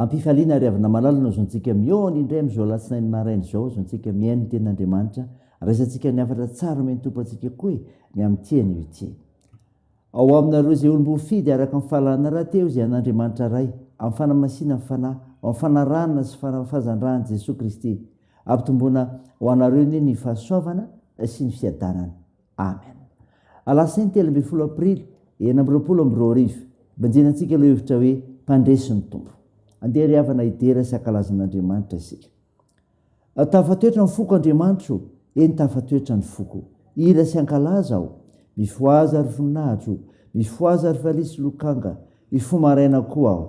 Am-pifaliana ary avy namalala no azontsika mihaona indray amin'izao alatsinainy maraina izao, azontsika mihaino ny Tenin'Andriamanitra, raisantsika ny hafatra tsara omen'ny Tompo antsika koa e, ny amin'ny tia an'io ity. Ao aminareo izay olom-boafidy araka ny fahalalana rahateo izay an'Andriamanitra Ray, amin'ny fanamasinan'ny Fanahy, ho amin'ny fanarahana sy fanafahan-dRan'i Jesoa Kristy. Ampitomboina ho anareo anie ny fahasoavana sy ny fiadanana. Amen. Alatsinainy telo ambin'ny folo aprily enina amby roapolo amby roa arivo, banjina antsika lohahevitra hoe Mpandresy ny Tompo. Andeha ry havana hidera sy hankalaza an'Andriamanitra isika. Tafatoetra ny foko Andriamanitro, eny tafatoetra ny foko. Hira sy hankalaza aho, mifohaza ry voninahitro, mifohaza ry valiha sy lokanga, Mifoha maraina koa aho.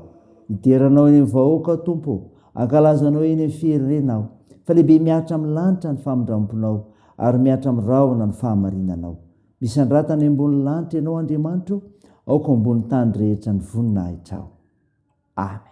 Hidera Anao eny amin'ny vahoaka aho, Tompo ô. Hankalaza Anao eny amin'ny fierirena aho. Fa lehibe mihatra amin'ny lanitra ny famindram-ponao, ary mihatra amin'ny rahona ny fahamarinanao. Misandrata any ambonin'ny lanitra Ianao, Andriamanitra ô, aoka ho ambonin'ny tany rehetra ny voninahitrao. Amen.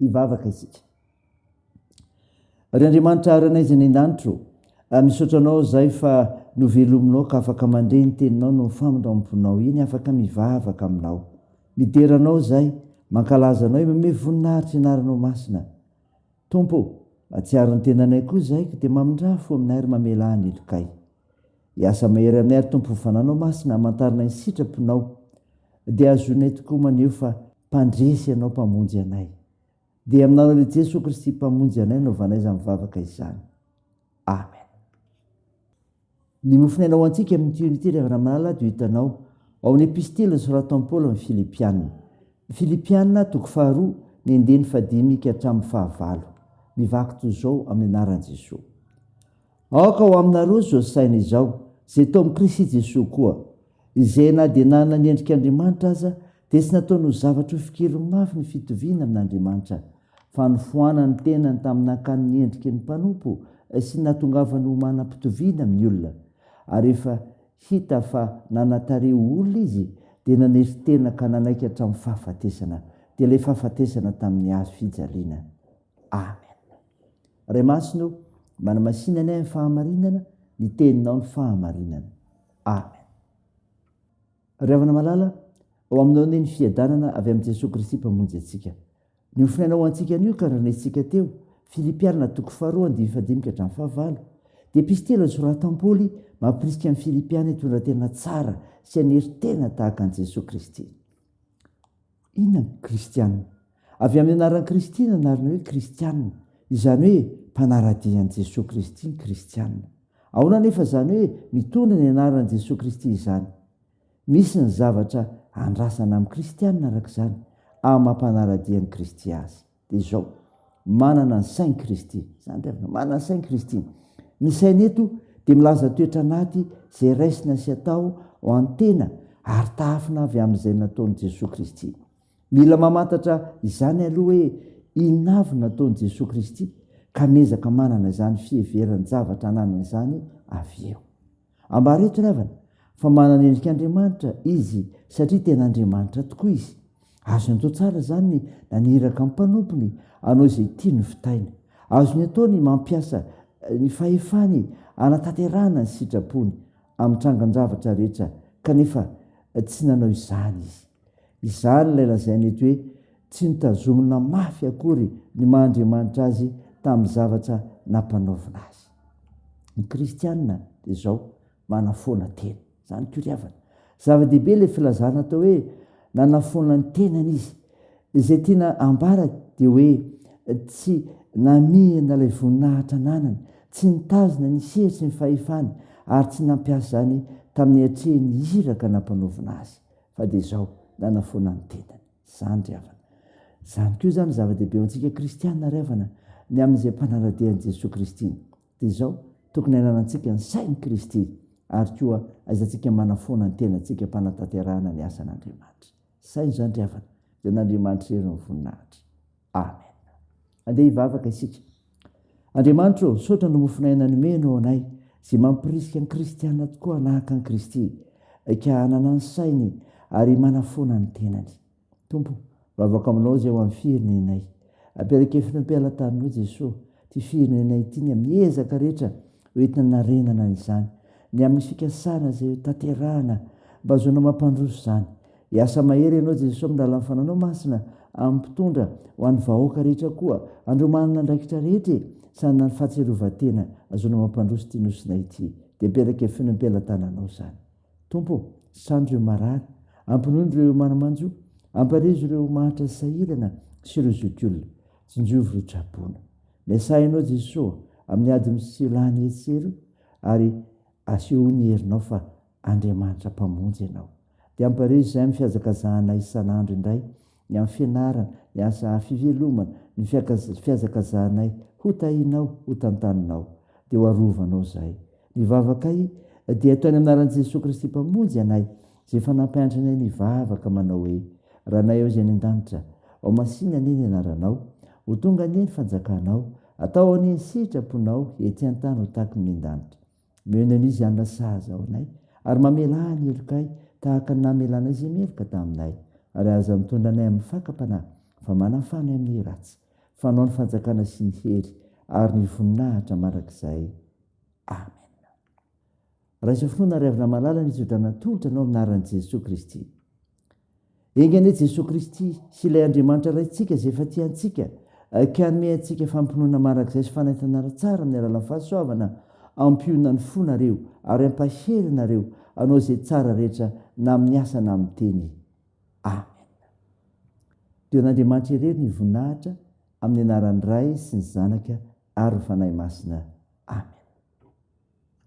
Hivavaka isika. Ry Andriamanitra aranay izay ny an-danitro, ah, misaotra anao izay fa novelominao ka afaka mandre ny teninao no famindramponao eny, afaka mivavaka aminao. Midera anao izay, mankalaza anao, eo mamevo voninahitra ianaranao masina. Tompo ô, atsiaro ny tenanay koa izahay ka dia mamindrà fo aminay ary mamela ahy ny lokay. Hiasa mahery aminay ary Tompo ny Fananao Masina hamantarana ny sitraponao dia hahazoanay tokoa maneho fa Mpandresy Ianao Mpamonjy anay. Dia amin'Anao lehibe Jesoa Kristy Mpamonjy anay anaovanay izany vavaka izany. Amen. Ny mofon' aina ho antsika amin' ity Unity ry havana malala dia ho hitanao ao amin' ny Epistily nosoratan' i Paoly amin' ny Filipiana. Ny Filipiana, toko faharoa, ny andininy fahadimy ka hatramin' ny fahavalo. Mivaky toy izao amin' ny anaran' i Jesoa. Aoka ho aminareo izao saina izao, izay tao amin' i Kristy Jesoa koa, izay na dia nanana ny endrik' Andriamanitra aza Dia tsy nataony ho zavatra ho fikiry mafy ny fitoviana amin'Andriamanitra, fa nofoanany ny tenany tamin'ny nakany ny endriky ny mpanompo sy ny nahatongavany ho manam-pitoviana amin'ny olona. Ary rehefa hita fa nanatare ho olona izy, dia naneso tena ka nanaiky hatramin'ny fahafatesana, dia ilay fahafatesana tamin'ny hazo fijaliana. Amen. Ray Masina ô, manamasinany ahy amin'ny fahamarinana, ny Teninao ny fahamarinana. Amen. Ry havana malala, ao aminao anie ny fiadanana avy amin'i Jesoa Kristy Mpamonjy antsika. Ny ho Fiainao ho antsika anio ka nandrenesintsika teo, Filipiana toko faharoa andininy fahadimy ka hatramin'ny fahavalo. Dia episy telo nosoratan'i Paoly mampirisika ny Filipiana hitondra tena tsara sy hanery tena tahaka an'i Jesoa Kristy. Inona ny kristiana? Avy amin'ny anaran'i Kristy ny anarana hoe kristiana, izany hoe mpanara-dia an'i Jesoa Kristy ny kristiana. Ahoana anefa izany hoe mitondra ny anaran'i Jesoa Kristy izany? Misy ny zavatra andrasana amin'ny kristiana araka izany, amin'ny maha mpanara-dia an'i Kristy azy. de izao manana ny sain'i kristy zany tena manana ny sain'i kristy ny saina eto de milaza toetra anaty zay raisina sy atao ho an'ny tena ary tafina avy amin'izay nataon'i jesoa kristy mila mamantatra izany aloha hoe inona avy nataon'i jesoa kristy ka miezaka manana izany fiheveran-javatra ananany izany avy eo Ambareto ry havana fa manana endrik'Andriamanitra Izy satria tena Andriamanitra tokoa Izy. Azony atao tsara izany ny naniraka ny mpanompony hanao izay tiany ny vitaina. Azony atao ny mampiasa ny fahefany hanatanterahana ny sitrapony amin'ny trangan-javatra rehetra kanefa tsy nanao izany Izy. Izany ilay lazaina eto hoe tsy notazomina mafy akory ny maha Andriamanitra azy tamin'ny zavatra nampanaovina azy. Ny kristiana dia izao manafoana tena. Izany koa ry havana. Zava-dehibe ilay filazana atao hoe nanafoana ny tenany izy. Izay tiana ambara dia hoe tsy namihina ilay voninahitra ananany, tsy nitazona ny sehatry ny fahefany ary tsy nampiasa izany tamin'ny hatrehiny iraka nampanaovina azy. fa dia izao nanafoana ny tenany. Izany ry havana. Izany koa izany zava-dehibe ho antsika kristiana ry havana, ny amin'izay mpanara-dia an'i Jesoa Kristy. Dia izao, tokony hananantsika ny sain'i Kristy ary koa aizantsika manafoana ny tenantsika am-panatanterahana ny asan'Andriamanitra. Saina izany ry havana, dia an'Andriamanitra irery ny voninahitra. Amen. Andeha hivavaka isika. Andriamanitra ô, misaotra ny mofon'aina nomenao anay izay mampirisika ny kristiana tokoa hanahaka an'i Kristy, ka hanana ny sainy ary manafoana ny tenany. Tompo, mivavaka aminao izay ho amin'ny firenenay. Ampielekefino am-pelataninao Jesoa ity firenena ity ny amin'ny ezaka rehetra hoentina hanarenana izany, ny amin'ny fikasana izay ho tanterahana mba hahazoana mampandroso izany. Hiasa mahery Ianao Jesoa amin'ny lalan'ny Fanahinao Masina amin'ny mpitondra ho an'ny vahoaka rehetra koa andreo manana andraikitra rehetra e! Sanana ny fahatsiarovan-tena azoana mampandroso ity Nosina ity dia mipelaka feno am-pelatananao izany Tompo o! Sando ireo marary, ampinono ireo manamanjo, amparezo ireo mahantra sahirana sy ireo zokiolona, tsinjovy ireo traboina. Miasà Ianao Jesoa amin'ny ady misy lany etsy sy eroa ary asehoy ny herinao fa Andriamanitra Mpamonjy ianao. Dia ampihareo izay amin'ny fihazakazahanay isan'andro indray, ny amin'ny fianarana, ny asa fivelomana, ny fihazakazahanay ho tahinao, ho tantaninao. Dia ho arovanao izahay. Ny vavakay dia atao any anaran'i Jesoa Kristy Mpamonjy anay, izay efa nampianatra anay nivavaka manao hoe, Ranay ao izay any an-danitra, ao masina anie ny anaranao, ho tonga anie ny fanjakanao, atao anie ny sitraponao ety an-tany ho tahaky ny any an-danitra. Miheno an'i Izy hanina sahaza ao anay, ary mamelà ny helokay tahaka ny namelànao izay meloka taminay, ary aza mitondra anay amin'ny fakam-panahy, fa manafà anay amin'ny ratsy, fa anao ny fanjakana sy ny hery ary ny voninahitra mandrakizay. Amena. Raiso finoana ry havana malala ny tso-drano natolotra anao amin'ny anaran'i Jesoa Kristy. Enga anie Jesoa Kristy sy ilay Andriamanitra Raintsika izay efa tia antsika ka hanome antsika fampinoana marak'izay sy fanaintana ara-tsara amin'ny alalan'ny fahasoavana, ampiona ny fo nareo ary ampahery nareo hanao izay tsara rehetra na amin'ny asa na amin'ny teny. Amen. Dia ho an'Andriamanitra irery ny voninahitra amin'ny anaran'ny Ray sy ny Zanaka ary ny Fanahy Masina. Amen.